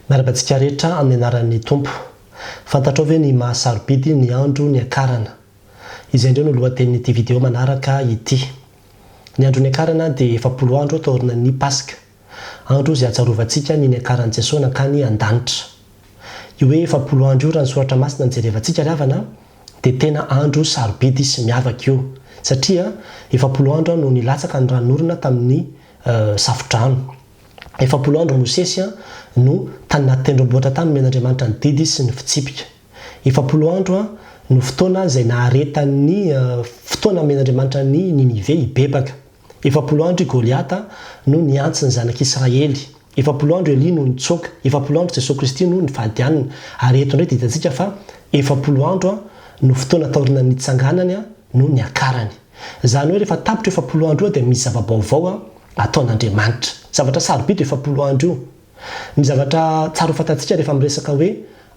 Miarahaba antsika rehetra amin'ny anaran'ny Tompo. Fantatrao ve ny maha sarobidy ny andro niakarana? Izay indray no lohatenin'ity video manaraka ity. Ny andro niakarana dia efapolo andro taorinan'ny Paska. Andro izay atsarovantsika ny niakaran'i Jesoa nankany an-danitra. Io hoe efapolo andro io raha ny soratra masina no jerevantsika ry havana dia tena andro sarobidy sy miavaka io satria efapolo andro no nilatsaka ny ranon'orona tamin'ny safodrano. Efapolo andro Mosesy no tany anaty tendrombohitra tany nomen'Andriamanitra ny didy sy ny fitsipika. Efapolo andro no fotoana izay naharetan'ny fotoana nomen'Andriamanitra an'i Ninive hibebaka. Efapolo andro i Goliata no nihantsy ny zanak'Israely. Efapolo andro Elia no nitsoaka. Efapolo andro Jesoa Kristy no nifadianina. Ary eto indray ditantsika fa efapolo andro no fotoana taorianan'ny nitsanganany no niakarany. Izany hoe rehefa tapitra io efapolo andro io dia misy zava-baovao ataon'Andriamanitra. Zavatra sarobidy io efapolo andro io. Ny zavatra tsara ho fantatsika rehefa miresaka hoe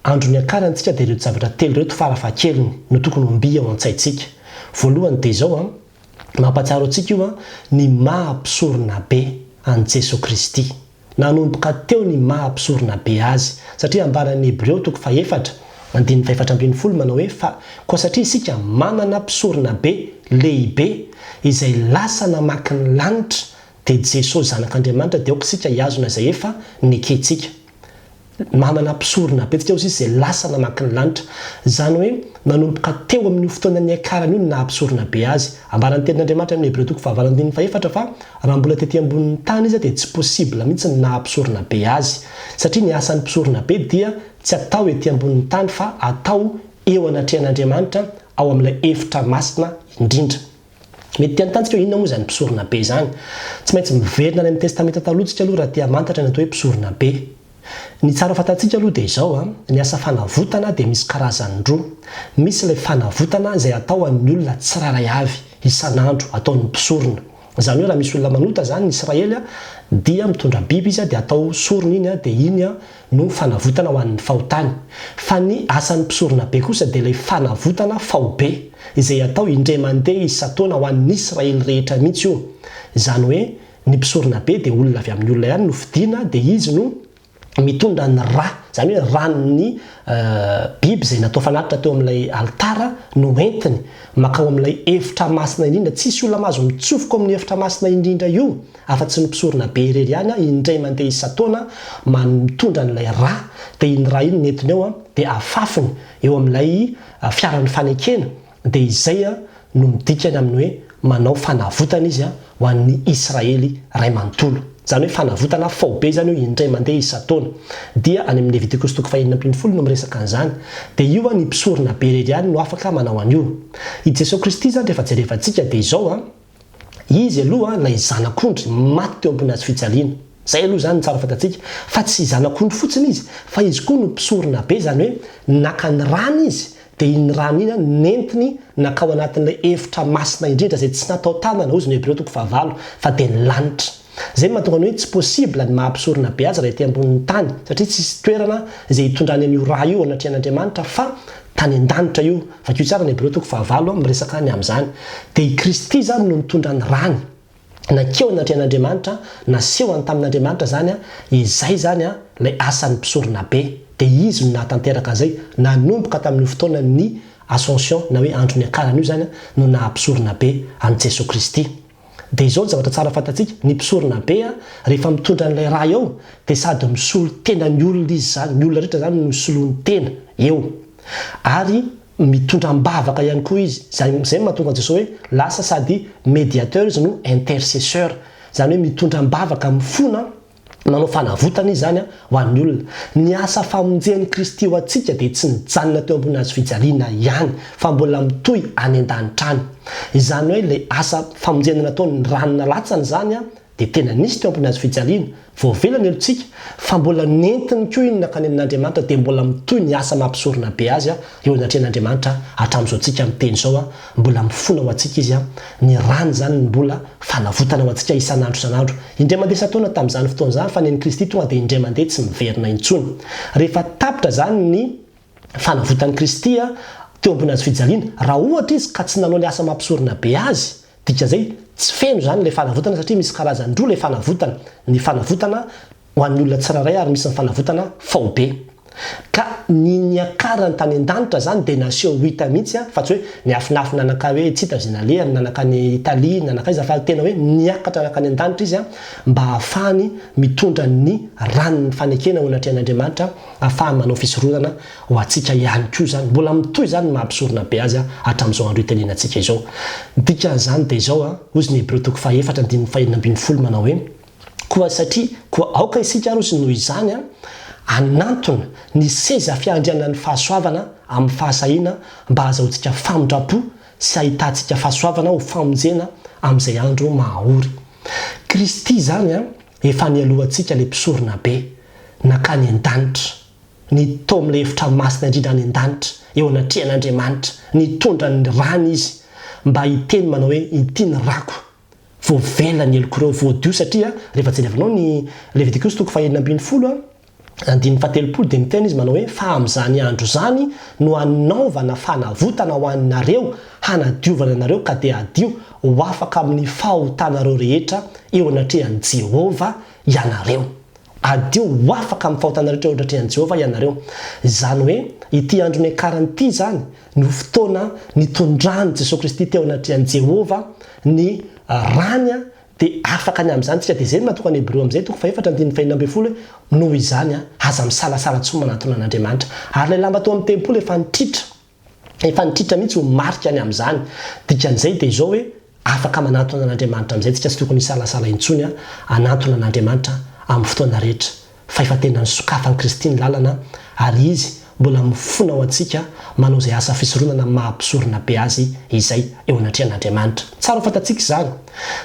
andro niakarany isika dia ireto zavatra telo ireto farafahakeliny no tokony ho mby ao an-tsaintsika. Voalohany dia izao, mampahatsiaro antsika io ny maha Mpisoronabe an'i Jesoa Kristy. Nanomboka teo ny maha mpisorona be azy, satria ambaran'ny Hebreo toko fahefatra, andininy fahefatra ambin'ny folo manao hoe fa koa satria isika manana mpisorona be lehibe izay lasa namaky ny lanitra dia Jesosy Zanak'Andriamanitra dia aoka isika hihazona izay efa nekentsika. Namana mpisorona be antsika hozy izy izay lasa namaky ny lanitra. Izany hoe nanomboka teo amin'io fotoana niakarany io ny naha mpisorona be azy. Ambaran'ny tenin'Andriamanitra amin'ny Hebreo toko fahavalo andininy fahefatra fa raha mbola tety ambonin'ny tany izy dia tsy possible mihitsy ny naha mpisorona be azy. Satria ny asan'ny mpisorona be dia tsy atao ety ambonin'ny tany fa atao eo anatrehan'Andriamanitra ao amin'ilay efitra masina indrindra. Mety te hantanjka hoe inona moa izany mpisorona be izany. Tsy maintsy miverina any amin'ny Testamenta Taloha tsika aloha raha te hamantatra ny atao hoe mpisorona be. Ny tsara fantatsika aloha dia izao, ny asa fanavotana dia misy karazany roa. Misy ilay fanavotana izay atao an'ny olona tsirairay avy, isan'andro, ataon'ny mpisorona. Izany hoe raha misy olona manota izany ny Israely dia mitondra biby izy dia atao sorona iny dia iny no fanavotana ho an'ny fahotany, fa ny asan'ny mpisoronabe kosa dia ilay fanavotana faobe, izay atao indray mandeha isan-taona ho an'ny Israely rehetra mihitsy io, izany hoe ny mpisoronabe dia olona avy amin'ny olona ihany no fidiana dia izy no mitondra ny ra, izany hoe ran'ny biby izay natao fanatitra teo amin'ilay alitara no entiny makao amin'ilay efitra masina indrindra, tsisy olona mahazo mitsofoka ao amin'ny efitra masina indrindra io, Afa tsy ny mpisorona be irery ihany an, indray mandeha isan-taona man mitondra an'ilay ra, dia iny ra iny nentiny eo an, dia afafiny eo amin'ilay fiaran'ny fanekena, dia izay an no midika ny amin'ny hoe manao fanavotana izy an ho an'ny Israely iray manontolo. Izany hoe fanavotana faobe izany io indray mandeha isan-taona. Dia any amin'ny Leviticus toko fahenina ambin'ny folo no miresaka an'izany. Dia io an ny mpisorona be irery ihany no afaka manao an'io. I Jesoa Kristy izany rehefa jerevantsika dia izao an, Izy aloha ilay zanak'ondry maty teo am-pon'ny hazofijaliana. Izay aloha izany no tsara fantatsika. Fa tsy zanak'ondry fotsiny izy, fa izy koa no mpisorona be, izany hoe naka ny rany izy, dia iny rany iny nentiny nankao anatin'ilay efitra masina indrindra izay tsy natao tanana, hozy ny Hebreo toko fahavalo, fa dia ny lanitra. Izay no mahatonga ny hoe tsy possible ny maha mpisorona beads raha ety ambonin'ny tany satria tsisy toerana izay hitondrany an'io ra io anatrehan'Andriamanitra fa tany an-danitra io, vakio tsara ny Hebreo toko fahavalo an, miresaka ny amin'izany. Dia i Kristy izany no nitondra ny rany, nankeo anatrehan'Andriamanitra, nasehony tamin'Andriamanitra izany an, izay izany an, ilay asan'ny mpisorona be. Dia Izy no nahatanteraka an'izay, nanomboka tamin'io fotoanan'ny Ascension na hoe andro niakarany io izany an, no naha mpisorona be an'i Jesoa Kristy. Dia izao ny zavatra tsara fantatsika, ny mpisorona be an, rehefa mitondra an'ilay raha eo, dia sady misolo tena ny olona izy izany, ny olona rehetra izany no soloiny tena eo. Ary mitondra am-bavaka ihany koa izy, izay izay no mahatonga an'i Jesoa hoe lasa sady mediateur izy no intercesseur, izany hoe mitondra am-bavaka, mifona, Nanao fanavotana Izy izany ho an'ny olona. Ny asa famonjen'i Kristy ho antsika dia tsy nijanona teo ambony hazo fijaliana ihany, fa mbola mitohy any an-danitra any. Izany hoe ilay asa famonjena nataon'ny rano nalatsany izany dia tena nisy teo ambony hazo fijaliana, voavela ny olontsika, fa mbola nentiny koa iny nankany amin'Andriamanitra dia mbola mitohy ny asa mampisorona be azy eo anatrehan'Andriamanitra hatramin'izao tsika miteny izao. Mbola mifona ho antsika izy, ny rany izany ny mbola fanavotana ho antsika isan'andro isan'andro. Indray mandeha isan-taona tamin'izany fotoana izany fa ny an'i Kristy tonga dia indray mandeha tsy miverina intsony. Rehefa tapitra izany ny fanavotan'i Kristy teo ambony hazo fijaliana, raha ohatra izy ka tsy nanao ny asa mampisorona be azy, dikan'izay tsy feno izany ilay fanavotana satria misy karazany roa ilay fanavotana, ny fanavotana ho an'ny olona tsirairay ary misy ny fanavotana faobe. Ka ny niakarany tany an-danitra izany dia naseho ho hita mihitsy an, fa tsy hoe niafinafy nanakà hoe tsy hita izay nalehany, nanakà any Italie, nanakà aiza, fa tena hoe niakatra nankany an-danitra izy an, mba hahafahany mitondra ny ran'ny fanekena ho natrehan'Andriamanitra, hahafahany manao fisoronana ho antsika ihany koa izany. Mbola mitohy izany ny maha mpisorona be azy an, hatramin'izao andro itenenantsika izao. Ny dikan'izany dia izao an, hoy izy ny Hebreo toko faha efatra andininy fahenina ambin'ny folo manao hoe. Koa satria koa aoka isika aroso noho izany hanantona ny seza fiandrianan'ny fahasoavana amin'ny fahasahiana mba hahazahoantsika famindram-po sy hahitantsika fahasoavana ho famonjena amin'izay andro mahaory. Kristy izany efa nialohantsika ilay mpisorona be nankany an-danitra, nitoha amin'ilay efitra masina indrindra any an-danitra eo anatrehan'Andriamanitra, nitondra ny rany izy mba hiteny manao hoe, Ity ny rako. Voavela ny heloko ireo voadio satria rehefa jerevanao ny Levitikosy toko fahenina ambin'ny folo a, andininy fahatelopolo dia miteny izy manao hoe fa amin'izany andro izany no hanaovana fanavotana ho anareo hanadiovana anareo ka dia hadio ho afaka amin'ny fahotanareo rehetra eo anatrehan'i Jehovah ianareo. Hadio ho afaka amin'ny fahotana rehetra eo anatrehan'i Jehovah ianareo. Izany hoe ity andro niakarany ity izany no fotoana nitondran'i Jesoa Kristy teo anatrehan'i Jehovah ny rany, dia afaka ny amin'izany isika. Dia izay no natokany Hebreo amin'izay toko fahefatra andininy fahenina ambin'ny folo hoe, Noho izany, aza misalasala intsony manatona an'Andriamanitra. Ary ilay lamba tao amin'ny tempoly efa nitritra, efa nitritra mihitsy ho marika ny amin'izany. Dikan'izay dia izao hoe. Afaka manantona an'Andriamanitra amin'izay tsy tokony hisalasala intsony aho hanantona an'Andriamanitra amin'ny fotoana rehetra. Fahefa-tenan'ny sokafan'i Kristy ny lalana ary Izy mbola mifona ho antsika manao izay asa fisoronana maha mpisorona be azy izay eo anatrehan'Andriamanitra. Tsara ho fantatsika izany.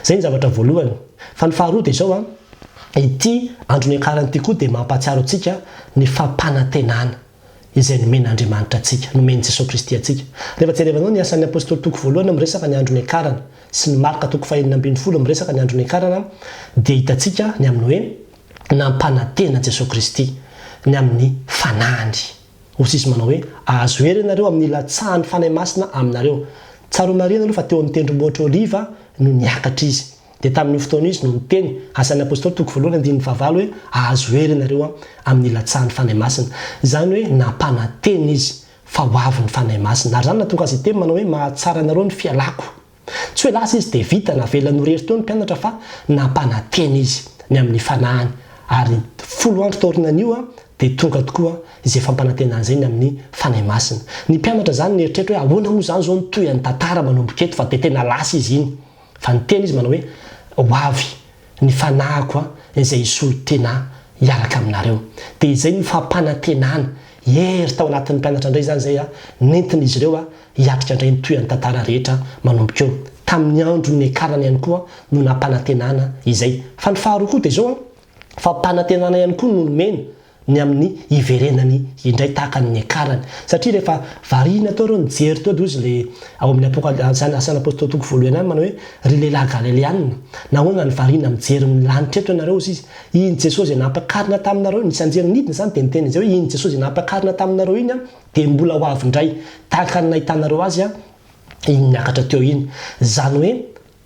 Izay ny zavatra voalohany. Fa ny faharoa dia izao an, ity andro niakarany ity koa dia mampahatsiaro antsika ny fampanantenana. izay nomen'Andriamanitra antsika, nomen'i Jesoa Kristy antsika. Rehefa jerevanao ny Asan'ny Apostoly toko voalohany miresaka ny andro niakarany, sy ny Marka toko fahenina ambin'ny folo miresaka ny andro niakarana, dia hitantsika ny amin'ny hoe nampanantena Jesoa Kristy ny amin'ny Fanahiny. Hoy Izy manao hoe, Ahazo hery ianareo amin'ny hilatsahan'ny Fanahy Masina aminareo. Tsaroanareo ianareo fa teo amin'ny Tendrombohitr'Oliva no niakatra Izy. Dia tamin'io fotoana io izy no niteny, Asan'ny Apostoly toko voalohany andininy fahavalo hoe, Ahazo hery ianareo amin'ny ilatsahan'ny Fanahy Masina. Izany hoe nampanantena izy fa ho avy ny Fanahy Masina. Ary izany nahatonga azy hiteny manao hoe, Mahatsara anareo ny fialako. Tsy hoe lasa izy dia vita, navelany ho rery teo ny mpianatra fa nampanantena izy ny amin'ny fanahiny. Ary folo andro taorinan'io dia tonga tokoa izay fampanantenana izay ny amin'ny Fanahy Masina. Ny mpianatra izany nieritreritra hoe, Ahoana moa izany izao no tohin'ny tantara manomboka eto fa dia tena lasa izy iny. Fa niteny izy manao hoe, Ho avy ny fanahiko an, izay hisolo tena hiaraka aminareo. Dia izay no fampanantenana hery tao anatin'ny mpianatra indray izany izay nentin'izy ireo hiatrika indray ny tohin'ny tantara rehetra manomboka eo. Tamin'ny andro niakarany ihany koa no nampanantenana izay. Fa ny faharoa koa dia izao an, fampanantenana ihany koa no nomeny ny amin'ny hiverenany indray tahaka ny niakarany satria rehefa variana teo ireo nijery teo dia hozy le ao amin'ny apokaly asany asany apostoly toko voalohany any manao hoe ry lehilahy galeleanina nahoana no variana mijery ny lanitra eto ianareo hozy izy iny jesosy izay nampakarina taminareo ny sanjery nidina izany dia niteny izay hoe iny jesosy izay nampakarina taminareo iny aho dia mbola ho avy indray tahaka ny nahitanareo azy aho iny niakatra teo iny izany hoe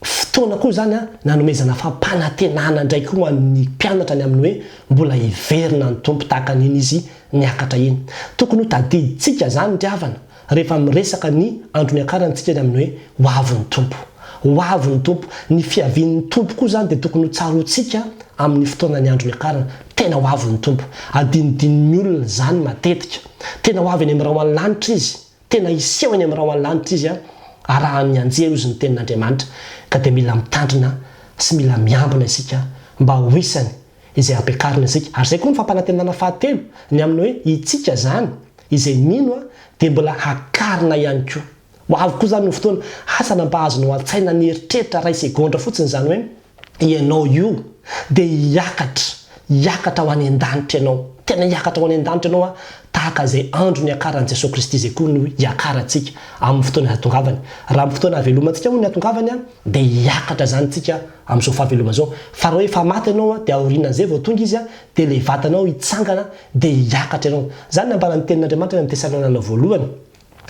Fotoana koa izany nanomezana fampanantenana indray koa ho an'ny mpianatra ny amin'ny hoe mbola hiverina ny Tompo tahaka an'iny Izy niakatra iny. Tokony ho tadidintsika izany ry havana rehefa miresaka ny andro niakarantsika ny amin'ny hoe ho avy ny Tompo. Ho avy ny Tompo. Ny fiavian'ny Tompo koa izany dia tokony ho tsaroantsika amin'ny fotoanan'ny andro niakarana. Tena ho avy ny Tompo. Adinodinon'ny olona izany matetika. Tena ho avy eny amin'ny rahona ny lanitra Izy. Tena hiseho eny amin'ny rahonlanitra izy arahan'ny anjely hozy ny tenin'Andriamanitra, ka dia mila mitandrina sy mila miambina isika mba ho isany izay ampiakarina isika. Ary izay koa no fampanantenana fahatelo, ny amin'ny hoe itsika izany izay mino dia mbola hakarina ihany koa. Ho avy koa izany ny fotoana, asa na mba azonao an-tsaina nieritreritra iray segondra fotsiny izany hoe, Ianao io dia hiakatra, hiakatra ho any an-danitra ianao. Tena hiakatra ho any an-danitra ianao tahaka izay andro niakaran'i Jesoa Kristy izay koa no hiakarantsika amin'ny fotoana hatongavany. Raha amin'ny fotoana havelomantsika moa ny hatongavany dia hiakatra izany isika amin'izao fahavelomana izao. Fa raha hoe efa maty ianao dia aorianan'izay vao tonga izy dia ilay vatanao hitsangana dia hiakatra ianao. Izany no nambaran'ny tenin'Andriamanitra any amin'ny Tesalonana Voalohany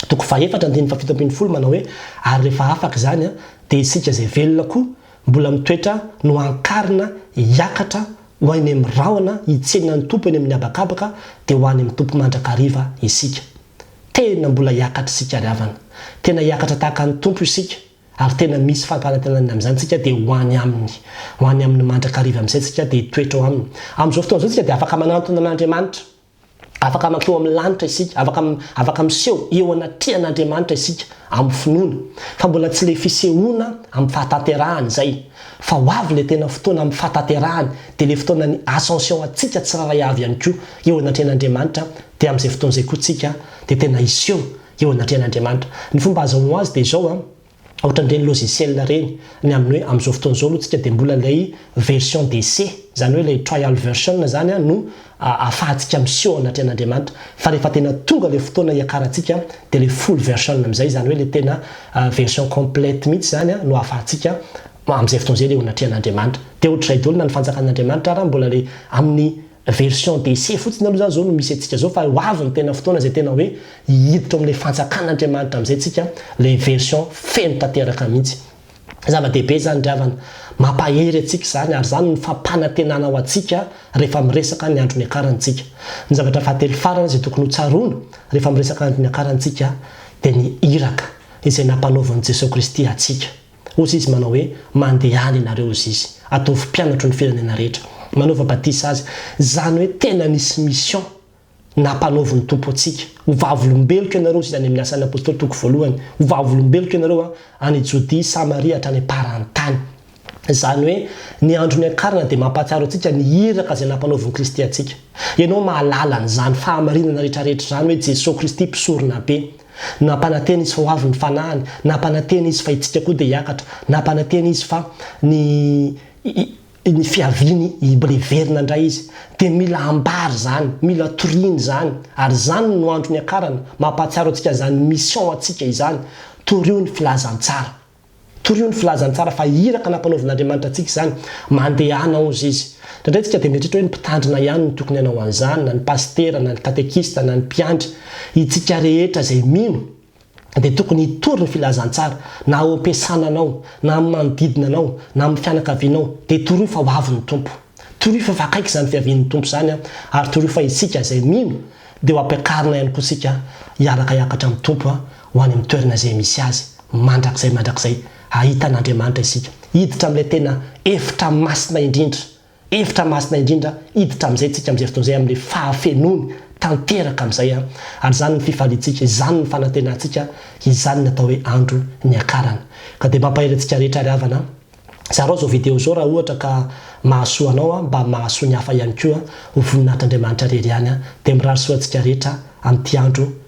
toko fahefatra andininy fahafito ambin'ny folo manao hoe, Ary rehefa afaka izany dia isika izay velona koa Mbola mitoetra no ankarina hiakatra ho any amin'ny rahona hitsena ny Tompo eny amin'ny habakabaka dia ho any amin'ny Tompo mandrakariva isika. Tena mbola hiakatra isika ry havana. Tena hiakatra tahaka ny Tompo isika ary tena misy fampanantenana amin'izany isika dia ho any Aminy. Ho any Aminy mandrakariva amin'izay isika dia hitoetra ao Aminy. Amin'izao fotoana izao isika dia afaka manantona an'Andriamanitra. Afaka mankeo amin'ny lanitra isika, afaka, afaka miseho eo anatrehan'Andriamanitra isika amin'ny finoana, fa mbola tsy ilay fisehoana amin'ny fahatanterahany izay, fa ho avy ilay tena fotoana amin'ny fahatanterahany, dia ilay fotoanan'ny Ascension antsika tsirairay avy ihany koa eo anatrehan'Andriamanitra, dia amin'izay fotoana izay koa tsika dia tena hiseho eo anatrehan'Andriamanitra. Ny fomba azahoanao azy dia izao an. Ohatran'ireny logiciel ireny, ny amin'ny hoe amin'izao fotoana izao aloha tsika dia mbola ilay version d'essai, izany hoe ilay trial version izany no ahafahantsika miseho anatrehan'Andriamanitra, fa rehefa tena tonga ilay fotoana hiakarantsika dia ilay full version amin'izay, izany hoe ilay tena version complète mihitsy izany no ahafahantsika amin'izay fotoana izay ilay eo anatrehan'Andriamanitra. Dia ohatr'izay daholo na ny fanjakan'Andriamanitra ary mbola ilay amin'ny. Version d'essai fotsiny aloha izany izao no misy antsika izao fa ho avy ny tena fotoana izay tena hoe hiditra ao amin'ilay fanjakan'Andriamanitra amin'izay isika, ilay version feno tanteraka mihitsy. Zava-dehibe izany ry havana. Mampahery antsika izany ary izany no fampanantenana ho antsika rehefa miresaka ny andro niakarantsika. Ny zavatra fahatelo farany izay tokony hotsaroana rehefa miresaka andro niakarantsika dia ny iraka izay nampanaovin'i Jesoa Kristy antsika. Hozy izy manao hoe, Mandehana ianareo hozy izy, ataovy mpianatro ny firenena rehetra, manaova batisa azy, izany hoe tena nisy mission nampanaovin'ny Tompo antsika, ho vavolombeloko ianareo hozy izy any amin'ny Asan'ny Apostoly toko voalohany, ho vavolombeloko ianareo an, any Jodia, Samaria hatrany am-paran'ny tany. Izany hoe ny andro niakarana dia mampahatsiaro antsika ny iraka izay nampanaovin'i Kristy antsika. Ianao mahalala an'izany fahamarinana rehetra rehetra izany hoe Jesoa Kristy mpisoronabe. Nampanantena izy fa ho avy ny fanahiny, nampanantena izy fa isika koa dia hiakatra, nampanantena izy fa ny ny fiaviany hibl hiverina indray izy. Dia mila ambara izany, mila toriana izany, ary izany no andro niakarana, mampahatsiaro antsika izany mission antsika izany, torio ny filazantsara. Torio ny filazany tsara fa iraka nampanaovin'Andriamanitra antsika izany. Mandehana hozy izy. Indraindray isika dia mieritreritra hoe ny mpitandrina ihany no tokony hanao an'izany, na ny pasitera, na ny katekista, na ny mpiandry. Itsika rehetra izay mino dia tokony hitory ny filazantsara, na ao am-piasana anao, na amin'ny manodidina anao, na amin'ny fianakavianao, dia torio fa ho avy ny Tompo. Torio fa efa akaiky izany fiavian'ny Tompo izany, ary torio fa isika izay mino dia ho ampiakarina ihany koa isika hiaraka hiakatra amin'ny Tompo. ho any amin'ny toerana izay misy Azy, mandrakizay mandrakizay, hahita an'Andriamanitra isika. Hiditra amin'ilay tena efitra masina indrindra, efitra masina indrindra, hiditra amin'izay isika amin'izay fotoana izay, amin'ilay fahafenoany tanteraka amin'izay. Ary izany ny fifaliantsika, izany ny fanantenantsika, izany ny atao hoe andro niakarana. Ka dia mampahery antsika rehetra ry havana, zarao izao video izao raha ohatra ka mahasoa anao, mba mahasoa ny hafa ihany koa, ho voninahitr'Andriamanitra irery ihany, dia mirary soa antsika rehetra amin'ity andro